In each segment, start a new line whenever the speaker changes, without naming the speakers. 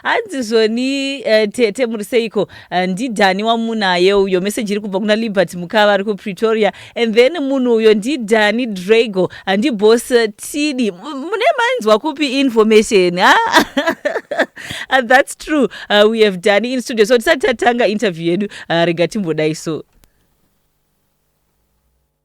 hanzi zvoni uh, tete muri seiko uh, eh, ndidhani wamunaye uyo meseji iri kubva kuna libert mukava ari kupretoria and then munhu uyo ndidhani drago handibos eh, tidi mune mainzwa kupi information ha ah, that's true uh, we have dani in studio so tisati tatanga interview yedu uh, rega timbodai so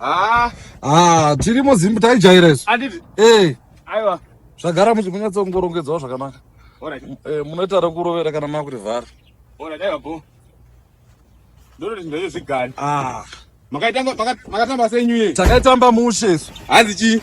Ah, ah, tiri muzimbu taijaira
isu. Anditi. Eh.
Aiwa. Zvagara
muchimunyatsa kungorongedzawo zvakanaka. Alright. Eh,
munoita rekurovera
kana makuti vhara. Alright, aiwa bho.
Ndoroti ndezvo zvigari. Ah. Makaitamba makaitamba senyu ye. Takaitamba mushe
isu. Hanzi chii?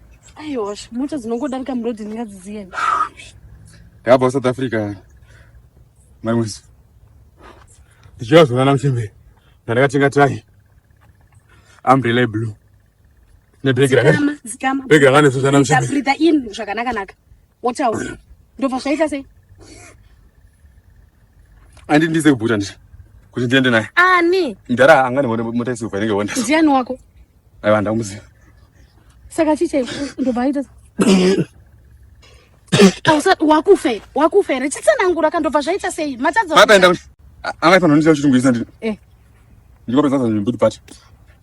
Aiwa,
mota dzinongodarika muroad ndingadziziye.
Ndabva South Africa. Mai Mwezi. Ndichiva zvona naMuchembere. Ndandakatenga tai. Umbrella blue. Nebhegi rakati. Zikama, zikama. Bhegi
rakane sosana Muchembere.
Breathe in zvakanaka
naka. Wotaura. Ndobva zvaita sei?
Andi ndize kubuda ndichi. Kuti ndiende naye. Ani? Ndara
angani wone
mota isilva inenge wonda. Ndiani wako?
Aiwa ndamuziva.
Saka
chiche ndobva aita. Ausa wakufe, wakufe. Rechitsanangura kandobva zvaita sei? Matadza. Mapenda.
Anga pano ndicho chitungwiza ndini. Eh. Ndikapedza zvangu mbudi pati.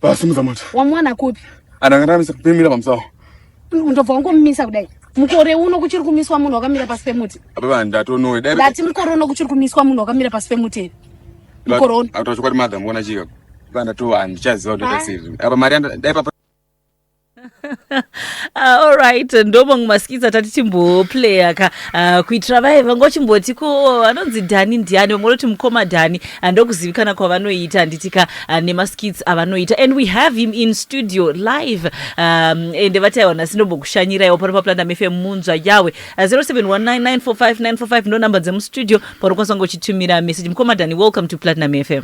Vasimudza mota. Wamwana kupi?
Anakanamisa kupimira
pamusawa. Ndobva
wangomumisa kudai. Mukore uno kuchiri kumiswa munhu wakamira pasi pemuti. Baba ndatonowe.
Dai ndati mukore uno kuchiri
kumiswa munhu wakamira pasi pemuti. Mukore uno. Atachokwadi madam wona chika.
Baba ndatowa ndichaziva kuti tasiri. Apa mari dai papa
Ah, all right ndomamwe maskits atati timboplaya ka Ah, kuitira vaye vangochimboti ko oh, anonzi dhani ndiani vamwe vanoti mukoma dhani Ah, ndokuzivikana kwavanoita handiti ka ah, nemaskits avanoita and we have him in studio live um, ende vati aiwa nhasi ndombokushanyiraiwo pano paplandam fm munzva yawe Ah, 0719945945 ndonumber dzemustudio paunokwanisa kungochitumira message mukoma dhani welcome to platinum fm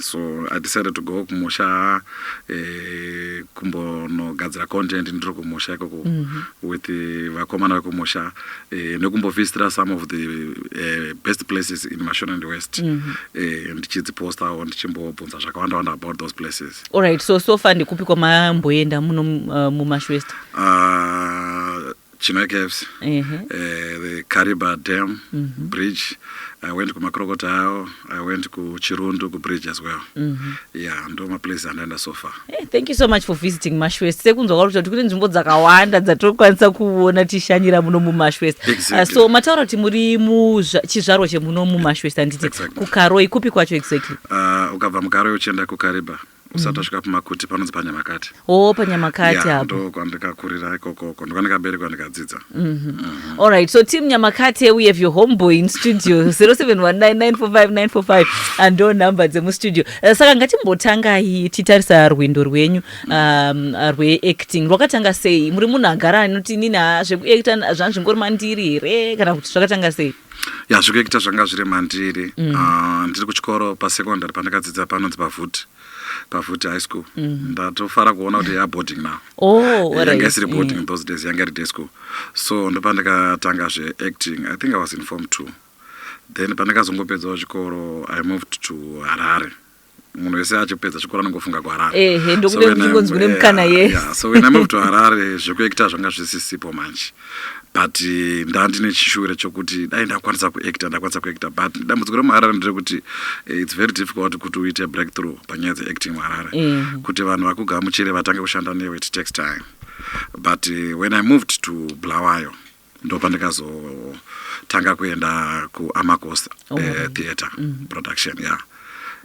so i decided to go kumusha eh, kumbonogadzira content ndiri kumusha ikoko mm -hmm. with eh, vakomana vekumusha eh, nekumbovistira some of the eh, best places in mashonaland west mm -hmm. eh, ndichidzipostawo ndichimbobvunza zvakawanda wanda about those places alright so so far
ndikupi kwamamboenda muno uh, mumash west uh, China
Caves, uh eh, -huh. uh, the Kariba Dam mm -hmm. bridge. I went ku Makrokotao, I went ku Chirundu ku bridge as well. Mm -hmm. Yeah, ndo ma place andaenda so far. Hey, eh, thank you so much for
visiting Mashwest. Sekunzwa kwacho kuti kune nzvimbo dzakawanda dzatokwanisa kuona tishanyira muno mu Mashwest. Ah, exactly. Uh, so mataura kuti
muri
mu chizvarwa chemuno mu Mashwest anditi exactly. ku Karoi kupi
kwacho
exactly? Uh, ukabva mu Karoi
uchienda ku Kariba. usati wasvika pamakuti panonzi panyamakati o panyamakati
apo ndo kwandikakurira
ikokoko ndo kwandikaberekwa ndikadzidza mhm. mhm. allright
so team nyamakati we have your homeboy in studio 0719945945 ando number dzemustudio eh, saka ngatimbotangai titarisa rwendo rwenyu um, rweacting rwakatanga sei muri munhu agara anoti nini ah, zvekuacta zvanzvingori mandiri here kana kuti zvakatanga sei ya zvikuita
zvanga zviri mandiri mm. uh, ndiri kuchikoro pasecondary pandakadzidza panonzi pavuti pavuti high school mm. ndatofara kuona kuti ya boarding now oh, yanga right. isiri boarding mm. those days yanga iri day school so ndopandakatanga zveacting i think i was in form two then pandakazongopedzawo chikoro i moved to harare munhu wese achipedza chikoro anongofunga kuharare ehe ndokude ndingonzi
kune mukana yes yeah, so when i moved to
harare zvekuekta zvanga zvisisipo manje but eh, ndandine chishure chokuti dai ndakwanisa kuekta ndakwanisa kuekta but dambudziko remuharare nderekuti eh, its very difficult kuti uite breakthrough panyaya dzeacting muharare eh. kuti vanhu vakugamuchire vatange kushanda newe it takes time but when i moved to blawayo ndopandikazotanga kuenda kuamacos eh, oh. uh, theatre mm -hmm. production ya yeah.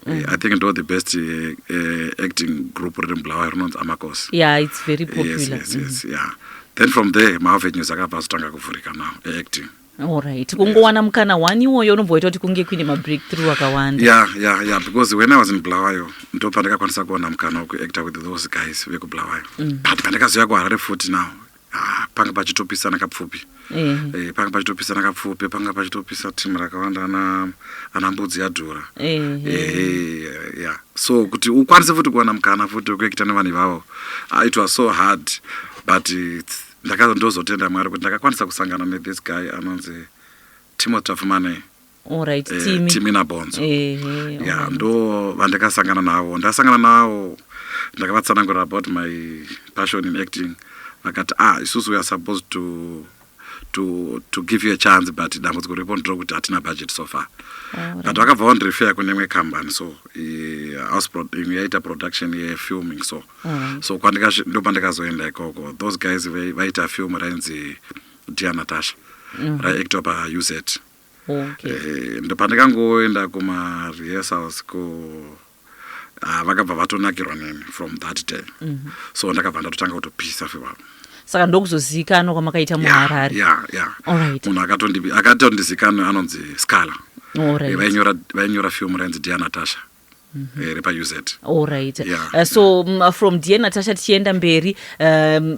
Mm. Eh, I think ndo the best uh, acting group riri mubulawayo rinonzi amacos yeah, it's very popular.
Yes, yes, mm. yes, mm. yeah.
then from there maavenues akabva azotanga kuvhurika now eacting Alright.
Kungowana mukana wani iwoyo unomboita kuti kunge kuine mabreakthrough akawanda. Yeah, yeah, yeah because when
I was in Bulawayo ndopandakakwanisa kuona mukana wekuactor with those guys vekubulawayo. Mm. But pandakazoya kuHarare futi now Ah, panga pachitopisana kapfupi Eh. Eh, panga pachitopisana kapfupi panga pachitopisa team rakawanda ana ana mbudzi yadhura Eh. Eh, yeah. so kuti ukwanise futi kuwana mukana futi wekuekita nevanhu ivavo ah, it was so hard but it's- ndaka- ndozotenda mwari kuti ndakakwanisa kusangana nethis guy anonzi timothy tafumane Alright, eh,
Timi. Timi naBonzo.
Eh, eh, ya alright. ndo vandakasangana navo ndasangana navo ndakavatsanangurira about my passion in acting vakati ah isusu we are supposed to to to give you a chance but dambudziko riripo ndiro kuti hatina budget so far but vakabva vandirefer kune imwe company so eh, house pro- imwe yaita production yefilming so so kwandikashi- ndo pandikazoenda ikoko those guys vai- vaita film rainzi dear natasha raiactwa pauz okay. eh, ndopandikangoenda kumarehearsals ko ah, vakabva vatonakirwa neni from that day mm -hmm. so ndakabva ndatotanga kutopisa fivavo saka ndokuzozivikanwa
kwamakaita muharare yeah, yeah, yeah. munhu
akatondizikanwa anonzi scala right. vainyora, vainyora film rainzi dianatasha Mhm. here pauz allright
yeah. uh, so um, uh, from dear natasha tichienda mberi um,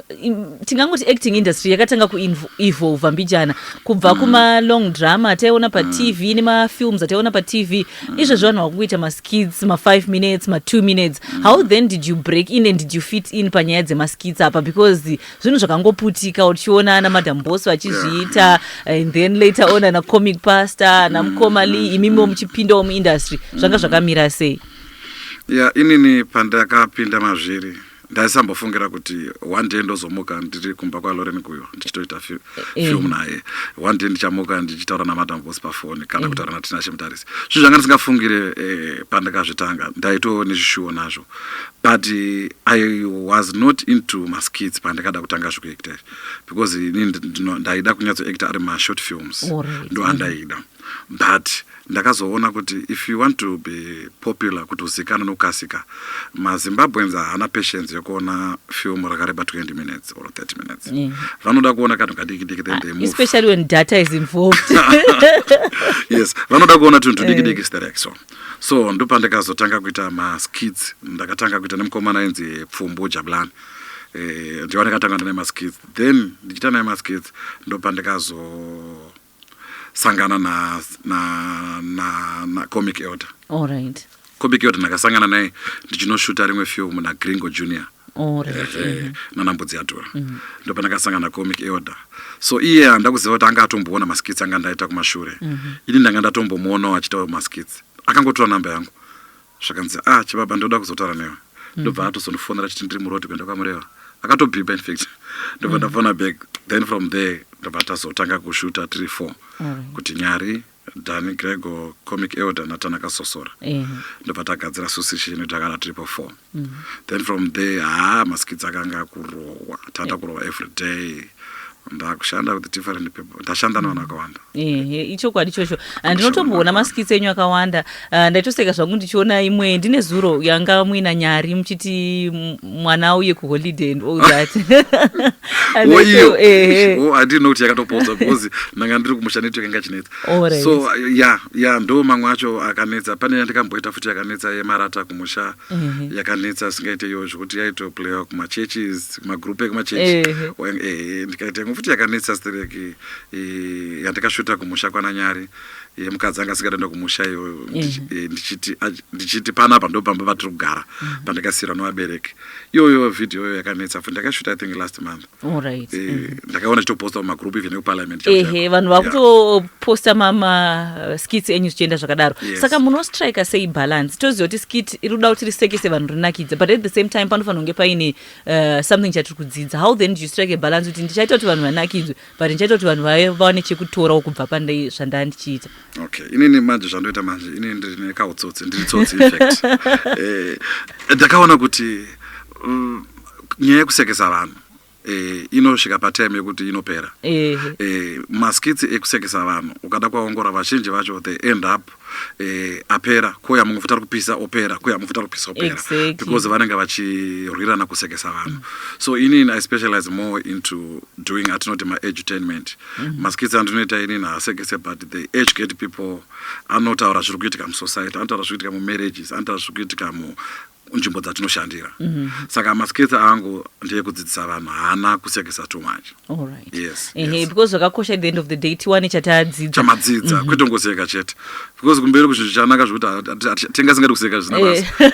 tingangoti acting industry yakatanga kuevolva mbijana kubva mm. kumalong drama ataiona patv mm. nemafilms ataiona patv mm. izvezvi vanhu vakukuita maskids ma5 minutes ma2 minutes mm. how then did you break in and did you fit in panyaya dzemaskids apa because zvinhu zvakangoputika uchiona ana madam boss vachizviita and then later on ana comic pastor ana mukoma lee mm. imimiwo muchipindawo muindustry zvanga mm. zvakamira sei ya inini
pandakapinda mazviri ndaisambofungira kuti one day ndozomuka ndiri kumba kwaloren kuyo ndichitoita eh, eh. film naye one day ndichamuka ndichitaura namadam boss pafoni kana eh. kutaura natinashe mutarisi zvinhu zvanga ndisingafungire pandakazvitanga ndaitoo nezvishuwo nazvo but uh, i was not into maskits pandakada kutanga zvekuacta because ini ndaida kunyatsoacta ari mashort films ndo andaida but ndakazoona kuti if you want to be popular kuti uzikana nokukasika mazimbabweans haana patience yokuona film rakareba 20 minutes or 30 minutes mm. vanoda kuona kanhu kadiki diki then they ah, move especially when data is
involved
yes vanoda kuona tunhu tudiki diki eh. sterek so mm. so ndopandakazotanga kuita maskits ndakatanga kuita nemukomana ainzi pfumbu jabulani e, eh, ndiwa ndakatanga ndine maskits then ndichiita naye maskits ndopandakazosangana na, na, na, na comic elder All right.
comic elder ndakasangana
naye ndichinoshuta rimwe film nagringo junior Oh, eh, right. eh, Mhm. nana mbudzi yatura ndopandakasangana comic elder so iye handa kuziva kuti anga atomboona maskits anga ndaita kumashure ini ndanga ndatombomuonawo achitawo maskits akangotora namba yangu zvakanzi ah chibaba ndoda kuzotaura newe ndobva atozondifonera achiti ndiri muroad kuenda kwamureva akatobhiba infact ndobva ndafona back then from there ndobva tazotanga kushuta tiri four kuti nyari Danny Gregor, Comic Elder naTanaka Sosora yeah. ndobva tagadzira susishe ino takana triple four mm -hmm. then from there haa maskits akanga akurohwa tata yeah. kurohwa every day ndakushanda with different people ndashanda navanhu akawanda ichokwadi
ichocho ndinotomboona maskits enyu akawanda Uh, ndaitoseka zvangu ndichiona imwe ndine zuro yanga muina nyari muchiti mwana auye kuholiday and all that
oiyo eh, eh. handino kuti yakatopodza because ndanga ndiri kumusha neto yakanga chinetsa so ya ya ndo mamwe acho akanetsa pane yandikamboita futi yakanetsa yemarata kumusha mhm. yakanetsa singaite iyo zvekuti yaitoplayiwa kumachurches magroup ekumachurch eh, ndikaita imwe futi yakanetsa stereki yandikashuta kumusha kwananyari mm ye mukadzi anga asingatoenda kumusha iyo eh, ndichiti ndichiti panapa ndo pamba vatiri kugara mhm. pandakasiyirwa nevabereki iyoyo video iyoyo yakanetsa futi ndakashuta i think last month right. eh, mhm.
ndakaona chitoposta
mumagroup even ekuparliament ehe vanhu
vakutoposta mamaskits enyu zvichienda zvakadaro yes. saka munostrika sei balance toziva kuti skit iri kuda kuti risekese vanhu rinakidza but at the same time panofanira kunge paine uh, something chatiri kudzidza how then do you strike a balance kuti ndichaita kuti vanhu vanakidzwe but ndichaita kuti vanhu vaye vawane chekutorawo kubva pane zvandaa ndichiita okay inini
manje zvandoita manje inini ndine kautsotsi ndiri tsotsi infact eh, ndakaona kuti mm, nyaya yekusekesa vanhu eh, inosvika patime yekuti inopera eh, maskits ekusekesa vanhu ukada kwaongora vazhinji vacho they end up eh, apera koya mumwe futi ari kupisa opera koya mumwe futi ari kupisa opera Exactly. because vanenge vachirwirana kusekesa vanhu so inini i specialize more into doing atinoti maedutainment maskits andinoita inini haasekese but they educate people anotaura zviri kuitika musociety anotaura zviri kuitika mumarriages anotaura zviri kuitika mu kunzvimbo dzatinoshandira mm -hmm. saka maskills angu ndeyekudzidzisa vanhu haana kusekesa too much right. yes, uh
-huh. yes. because
zvakakosha at
the end of the day tiwane chatadzidza chamadzidza mm -hmm.
kwete kungoseka chete because kumberi kuzvinhu chanaka zvekuti tingasingadi kuseka zvisina basa eh.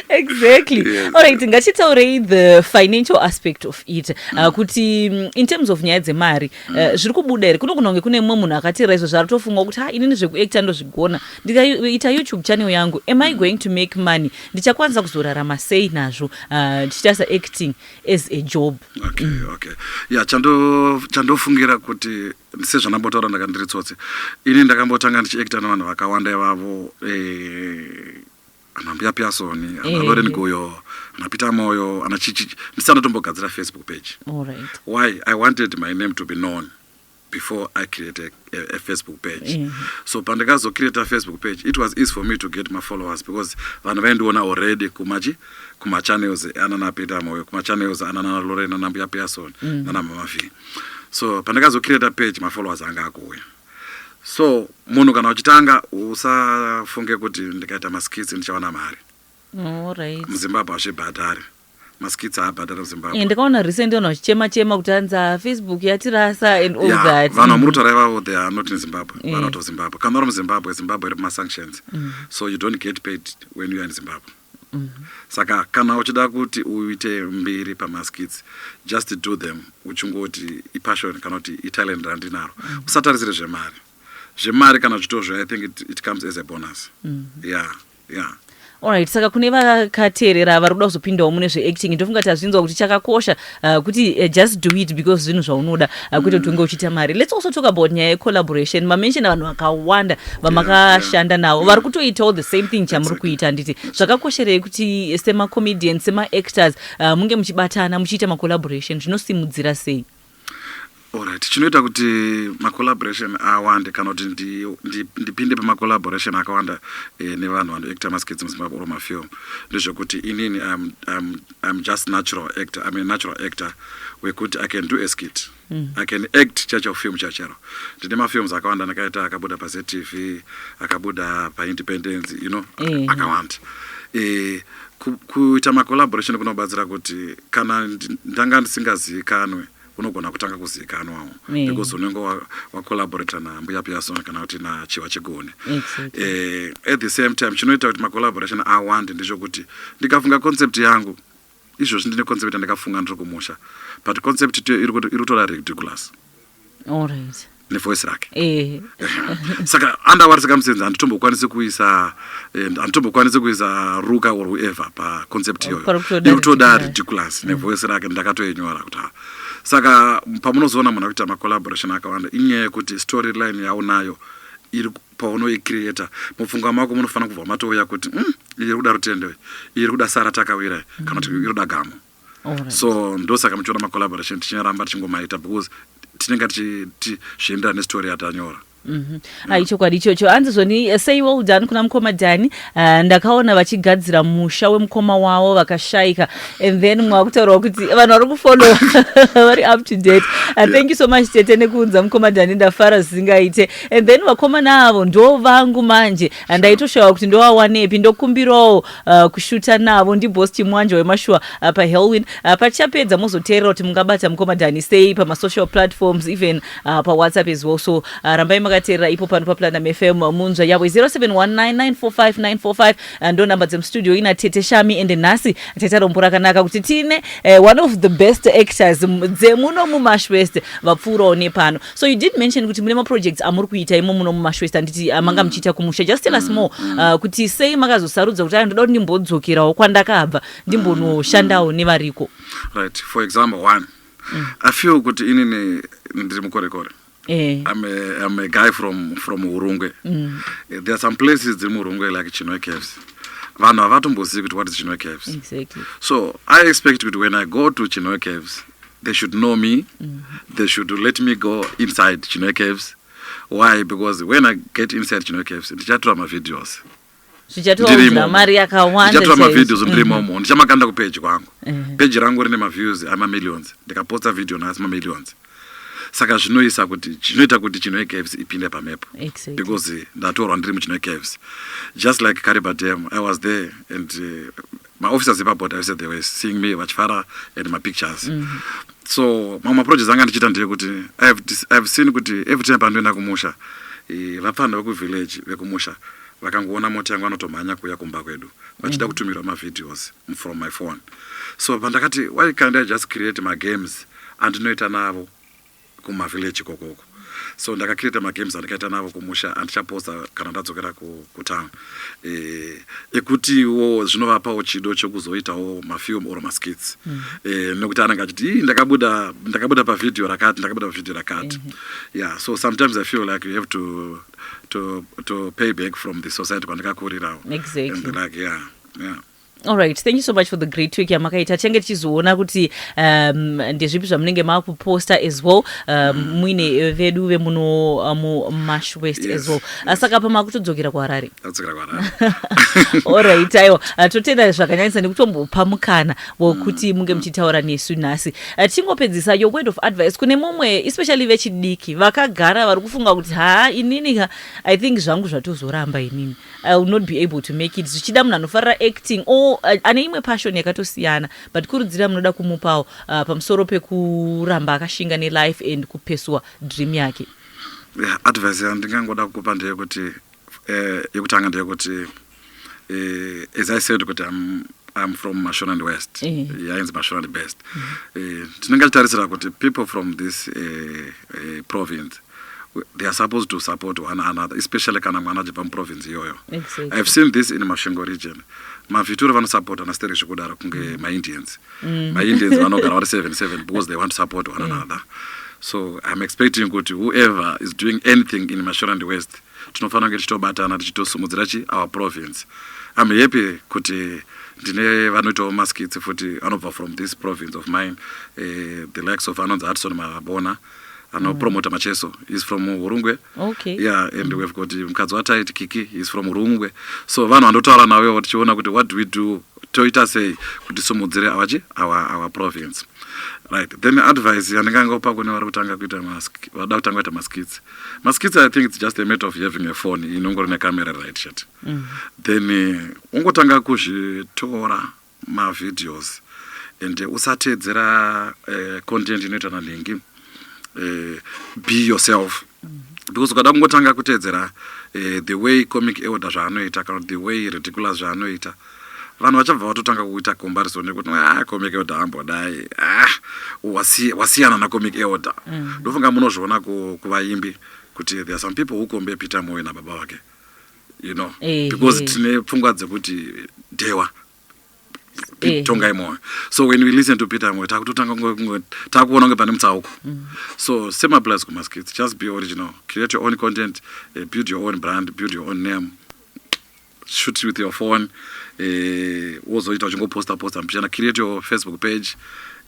exactly yes. allright ngachitaurei the financial aspect of it uh, mm. uh, kuti mm, in terms of nyaya dzemari uh, mm. zviri kubuda here kunogona kunge kune mumwe munhu akateera izvo zvaari tofunga kuti ha inini zvekuacta ndozvigona ndikaita youtube channel yangu am i going to make money ndichakwanisa kuzorarama sei nazvo ah, ndichiita uh, saacting as a job okay, mm. okay.
ya chandofungira kuti sezvandambotaura ndaka ndiri tsotsi ini ndakambotanga ndichiacta nevanhu vakawanda ivavo eh, anambuya piasoni analoren eh. goyo anapita moyo anachichi ndisanotombogadzira facebook page right.
why i wanted
my name to be known before i create a, a, a facebook page yeah. so pandikazo create a facebook page it was easy for me to get my followers because vanhu vaindiona already kumachi kumachannels anana peter moyo kumachannels anana lorena nambuya pearson mm. nana mama v so pandikazo create a page my followers anga akuuya so munhu kana uchitanga usafunge kuti ndikaita maskits ndichawana mari
muzimbabwe
hazvibhadhari maskits haabhadhara muzimbabwe eh, ndakaona recent vanhu vachichema
chema kuti hanzi ah, facebook yatirasa and all that vanhu vamurutaura ivavo they
are not in zimbabwe yeah. vanoto zimbabwe kana uri muzimbabwe zimbabwe iri pamasanctions mm -hmm. so you don't get paid when you are in zimbabwe mm -hmm. saka kana uchida kuti uite mbiri pamaskits just do them uchingoti ipassion kana kuti italent randinaro mm -hmm. usatarisire zvemari zvemari kana zvitozvo i think it, it comes as a bonus mm -hmm. yeah yeah
Alright, saka kune vakateerera vari kuda kuzopindawo mune zveacting ndofunga kuti hazvinzwa kuti chakakosha uh, kuti uh, just do it because zvinhu zvaunoda uh, kwete kuti unge uchiita mari let's also talk about nyaya yecollaboration mamenshona vanhu vakawanda vamakashanda navo vari kutoitawo the same thing chamuri kuita handiti zvakakosherei kuti semacomedian semaactors uh, munge muchibatana muchiita macollaboration zvinosimudzira sei Alright,
chinoita kuti macollaboration awande kana kuti ndipinde pamacollaboration akawanda eh, nevanhu vanoactor maskits muzimbabwe or mafilm ndezvekuti inini I'm, I'm, I'm just natural actor I'm a natural actor wekuti I can do a skit mm. I can act chacho film chachero ndine mafilms akawanda ndakaita akabuda paZTV akabuda paIndependence you know mm. akawanda eh, Kuita macollaboration kunobatsira kuti kana ndanga ndisingazivikanwe unogona kutanga kuzivikanwawo eh. because unenge wacollaborata nambuya piason kana kuti nachiwa chigoni eh, at the same time chinoita kuti macollaboration awande ndezvokuti ndikafunga concept yangu izvozvi ndine concept yandakafunga ndiri kumusha but concept iri kutora ridiculous
nevoice rake
eh. saka andawari circumstance handitombokwanisi kuisa eh, handitombokwanisi kuisa ruka or whoever paconcept iyoyo ikutoda ridiculous mm. nevoice rake ndakatoinyora kuti ha saka pamunozoona munhu akuita macollaboration akawanda inyaya yekuti story line yaunayo iri paunoicreata mupfungwa mako munofanira kubva matouya kuti mm, iri kuda rutendo iri kuda sara takawira kana kuti iri kuda gamo Alright. so ndosaka muchiona macollaboration tichinyaramba tichingomaita because tinenge tichi- ti- zvichienderana nestory yatanyora ayi chokwadi
ichocho hanzi zvoni eh, sei well done kuna mukoma dhani Ah, ndakaona vachigadzira musha wemukoma wavo vakashaika and then mwakutaurawo kuti vanhu vari kufollowa vari up to date Ah, thank you so much tete nekuunza mukoma dhani ndafara zvisingaite and then vakomana avo ndo vangu manje Ah, ndaitoshawa kuti ndowawanepi ndokumbirawo Uh, kushuta navo ndiboss chimwanja wemashuwa uh, pahelwin uh, patichapedza mozoteerera kuti mungabata mukoma dhani sei pamasocial platforms even uh, pawhatsapp as well so uh, rambai makateerera ipo pano paplanam fm uh, munzva yavo 0719945945 uh, ndo namba dzemustudio ina tete shami ende nhasi tete rombo rakanaka kuti tine uh, one of the best actors m- dzemuno mumashwest vapfuurawo nepano so you did mention kuti mune maprojects amuri kuita imo muno mumashwest anditi ah, manga mm. muchiita kumusha just tell us mm, more mm. ah, kuti sei makazosarudza kuti ayo ndoda kuti ndimbodzokerawo kwandakabva ndimbonoshandawo nevariko right for
example one i feel kuti inini ndiri mukorekore Eh. I'm, a, I'm a guy from, from urungwe mm. Eh, there are some places dziri muurungwe like chinwe caves vanhu havatombozivi kuti what is chinwe caves exactly.
so i
expect kuti when i go to chinwe caves they should know me mm -hmm. they should let me go inside chinoe caves why because when i get inside chinoe caves ndichatora mavideos zvichatounza
mari yakawandachatora mavideos ndiri mhm.
momo ndichamakanda kupeji kwangu mhm. peji rangu rine maviews amamillions ndikaposta video nhasi mamillions saka zvinoisa kuti zvinoita kuti chinoe caves ipinde pamhepo exactly. because
ndatorwa
ndiri muchinoe caves just like caribadem i was there and uh, maofficers epaboard aise the way seeing me vachifara and mapictures mm -hmm. so mamwe maprojects anga ndichiita ndeyekuti ihave seen kuti every time pandoenda kumusha vapfana vekuvillage vekumusha vakangoona mota yangu vanotomhanya kuuya kumba kwedu vachida mm. kutumirwa mavideos from my phone so pandakati why can't i just create magames andinoita navo kumavillage kokoko so ndakakireta magames andikaita navo kumusha andichaposta kana ndadzokera kutown eh, ekutiwo zvinovapawo chido chekuzoitawo mafilm or maskits mm. eh, nekuti anenge achiti ndakabuda ndakabuda pavhidhiyo rakati ndakabuda pavhidhiyo rakati mm -hmm. yeah so sometimes i feel like you have to, to, to pay back from the society kwandikakurirawo exactly. and like
yeah,
yeah. Alright,
thank you so much for the great work yamakaita tichenge tichizoona kuti um, ndezvipi zvamunenge makuposta as well um, muine eh, vedu vemuno uh, mu mash west yes, as well yes. Ah, saka pa makutodzokera kuharare
alright
aiwa ah, totenda zvakanyanyisa nekutombopa mukana wokuti mm, munge mm. muchitaura nesu nhasi ah, tichingopedzisa your word of advice kune mumwe especially vechidiki vakagara vari kufunga kuti haa inini i think zvangu zvatozoramba inini I will not be able to make it zvichida munhu anofarira acting or uh, ane imwe passion yakatosiyana but kurudzira munoda kumupawo uh, pamusoro pekuramba akashinga nelife and kupesuwa dream yake yeah, advice
yandingangoda kukupa ndeyekuti eh, yekutanga ndeyekuti eh, as i said kuti am I'm from Mashonaland West. Eh. Yainzi yeah, Mashonaland Best. Mm-hmm. Eh, Tinenge titarisira kuti people from this uh, uh, province they are supposed to support one another especially kana mwana achibva muprovince iyoyo exactly. ihave seen this
in masvingo
region mavhiture vanosupportana siteri zvekudaro kunge mm. maindians mm. maindians vanogara vari seven seven because they want to support one mm. another so iam expecting kuti whoever is doing anything in mashorand west tinofanira kunge tichitobatana tichitosimudzira chi our province iam happy kuti ndine vanoitawo maskits futi anobva from this province of mine uh, the likes of anonzi adson mabona anopromota mm. macheso is from hurungwe okay. yeah and we've got mukadzi wataiti kiki is from hurungwe so vanhu vandotaura navo tichiona kuti what do we do toita sei kuti simudzire avachi our province right then advice yandinge angopa kune vari kutanga kuita vada kutanga kuita maskits maskits i think it's just a matter of having a phone inongori necamera right shat mm. then eh, ungotanga kuzvitora ma videos and usateedzera content inoita na Nhingi be yourself because ukada kungotanga kuteedzera the way comic elder zvaanoita kana the way ridiculous zvaanoita vanhu vachabva vatotanga kuita comparison nekuti ah, comic elder ambodai ah, wasiyana na comic elder mm. ndofunga munozviona kuvaimbi kuti there are some people who compare peter moyo nababa vake you know eh, because eh. tine pfungwa dzekuti dhewa eh. tongai moyo so when we listen to peter moyo takutotanga takuona kunge pane mutsauko mm. so same applies kumaskits just be original create your own content uh, build your own brand build your own name shoot with your phone eh, wozoita uchingoposta posta mpichana create your facebook page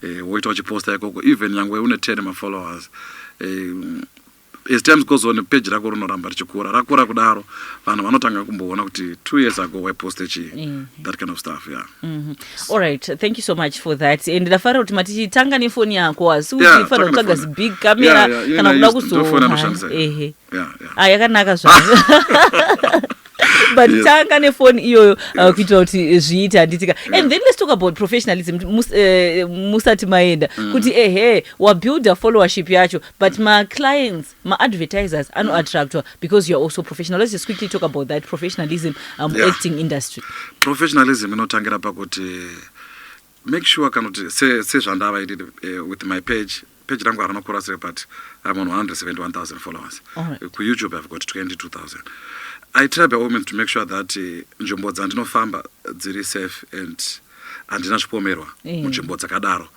eh, woita uchiposta ikoko even nyangwe une 10 mafollowers eh, As times goes on page rako rinoramba richikura rakura kudaro vanhu vanotanga kumboona kuti two years ago waiposte chii mm -hmm. that kind of stuff yeah mm -hmm. all
right thank you so much for that and ndafara kuti matichitanga nefoni yako asi yeah, uchifanira kutsvaga zibig camera yeah, yeah, kana kuda kuzoona ehe yeah, yeah. ah yakanaka zvavo but yes. tanga nefoni iyoyo uh, yes. kuitira kuti zviite handitika yeah. and then let's talk about professionalism eh, musati uh, maenda mm. kuti ehe wabuilda followership yacho But my clients, my advertisers are not attracted because you are also professional. Let's just quickly talk about that professionalism um, yeah. acting industry. Professionalism
inotangira pakuti make sure kana kuti sezvandavaitid eh, with my page page rangu harina kukura sei but i'm on 171000 followers right. kuyoutube
i've got
22000 i try by all means to make sure that eh, nzvimbo dzandinofamba dziri safe and handina zvipomerwa eh. munzvimbo dzakadaro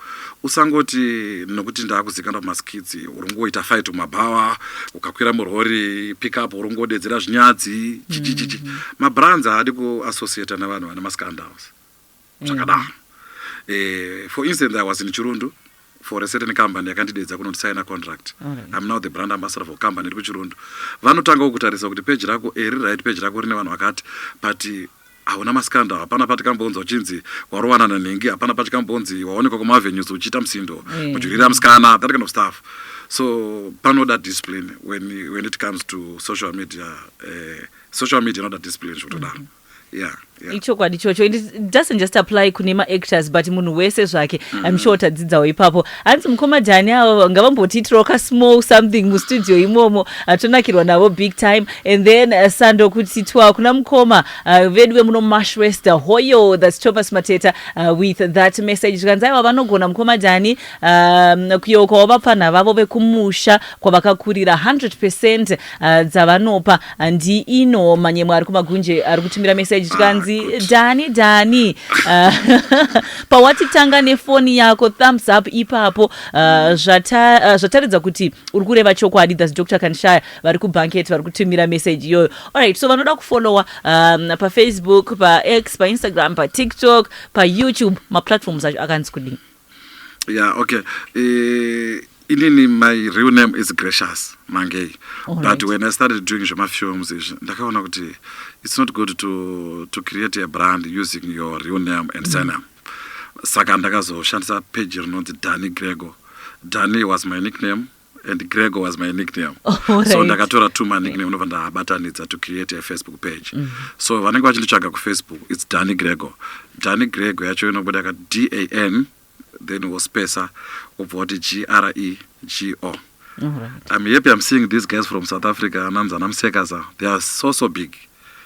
usangoti nokuti ndaakuzikana kumaskidzi uringoita fight kumabhawa ukakwira murhori pickup uringodedzera zvinyadzi chichichichi mm. mabrands haadi kuassociata nevanhu vane mascandals zvakadaro mm. eh, for instance i was in chirundu for a certain company yakandidedza kunoti signa contract right. I'm now the brand ambassador for company iri kuchirondo vanotanga kukutarisa kuti page rako eri eh, right page rako rine vanhu vakati but hauna maskanda hapana patikambonzi uchinzi warovana nanhingi hapana patikambonzi waonekwa kumavenues uchiita musindo mm. mudyirira musikana that kind of stuff so panoda discipline when, when it comes to social media uh, social media inoda discipline zvekutodaro mm -hmm. yeah, yeah.
ichokwadi ichocho and it doesn't just apply kune maactors but munhu wese zvake mm. im sure tadzidzawo ipapo hanzi mukoma dhani avo ngavambotiitirawo ka small something mustudio imomo atonakirwa navo big time and then uh, sando kutitwa kuna mukoma uh, vedu vemuno mashwester hoyo thats thomas mateta uh, with that message zvikanzi aiwa vanogona mukoma dhani um, kuyeukawo vapfanha vavo vekumusha kwavakakurira 100 percent uh, dzavanopa handi ino manyemwe ari kumagunje ari kutumira meseji tikanzi dhani dhani ah, pawatitanga nefoni yako thumbs up ipapo ah, ah, zvataridza kuti uri kureva chokwadi thats dr kanshaya vari kubanket vari kutumira meseji iyoyo allright so vanoda kufolowa um, pafacebook pax painstagram patiktok payoutube maplatforms acho akanzi kudii yeah okay
uh, inini my real name is gracious mangei right. but when i started doing zvemafilms izvi ndakaona kuti it's not good to, to create a brand using your real name and mm. surname saka ndakazoshandisa page rinonzi dani grego dani was my nickname and gregor was my nickname oh, right. so ndakatora two manickname ndobva ndabatanidza to create a facebook page mm -hmm. so vanenge vachinditsvaga kufacebook its dani gregor dani gregor yacho inobuda ka d a n then wospesa wobva wati g r e g o Right. I'm happy I'm seeing these guys from South Africa, Anamza, Namsekaza. They are so, so big.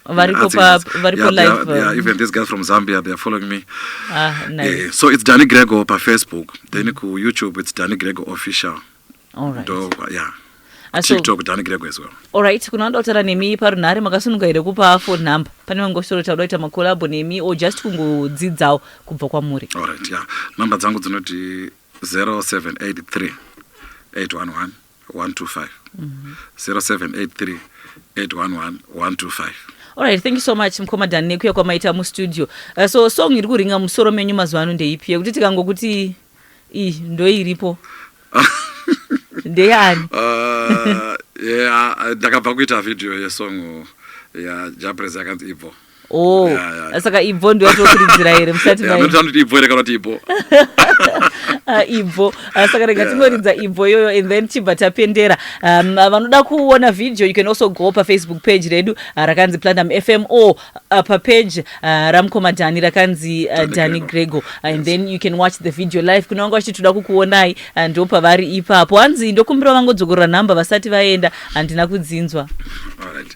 variko pa variko yeah, live yeah, yeah, even these guys from zambia they are following me ah, nice. yeah, eh, so
it's danny grego
pa facebook then mm. ku youtube it's danny grego official All right.
Do, yeah ah,
tiktok danny grego as well alright kuna vanoda kutaura
nemi parunhare makasununga here kupa phone number pane vamwe ngosoro tauda kuita makolabo nemi or just kungodzidzawo kubva kwamuri alright yeah number
dzangu dzinoti 0783 811 125 0783 811 125 Alright, thank you so
much mkoma Dan nekuya kwamaita mustudio. Uh, so song iri kuringa musoro menyu mazuva ano ndeipi yekuti tikangokuti iyi ndoiripo ndeyani? Ah, yeah,
ndakabva kuita video yesong yajaprez yakanzi ibvo Oh, saka
ibvo ndiyo atokuridzira here musati maanoti ibvo here kana kuti ibvo
ah, ibvo
ah, saka rega tinoridza ibvo iyoyo and then tibva tapendera um, ah, vanoda kuona video you can also go pafacebook page redu rakanzi platinum fm or papage ramukoma dhani rakanzi dhani grego and then you can watch the video live kune vanga vachiti toda kukuonai ndo pavari ipapo hanzi ndokumbira vangodzokorora nhamba vasati vaenda handina kudzinzwa All right.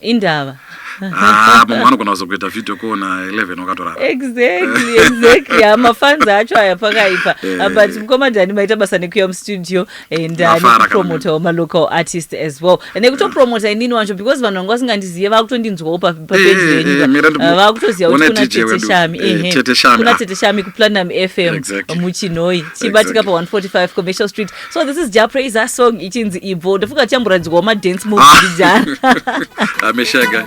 indava
ah,
mumwe anogona kuzokuita video ko na 11 wakatorara exactly exactly
hamafans ah, acho aya pakaipa eh. ah, but mukoma dani maita basa nekuya mustudio and eh, nekupromotawo malocal artist as well nekutopromota inini wacho because vanhu vanga vasingandizive vakutondinzwawo papeji eh, venyuka vakutoziva kuti kuna tete shami kuna tete shami kuplanam fm muchinhoi chibatika pa 145 commercial street so this is ja praiser song ichinzi ibvo ndofunga tichamboradzikwawo madance move ah. ndijana ameshaka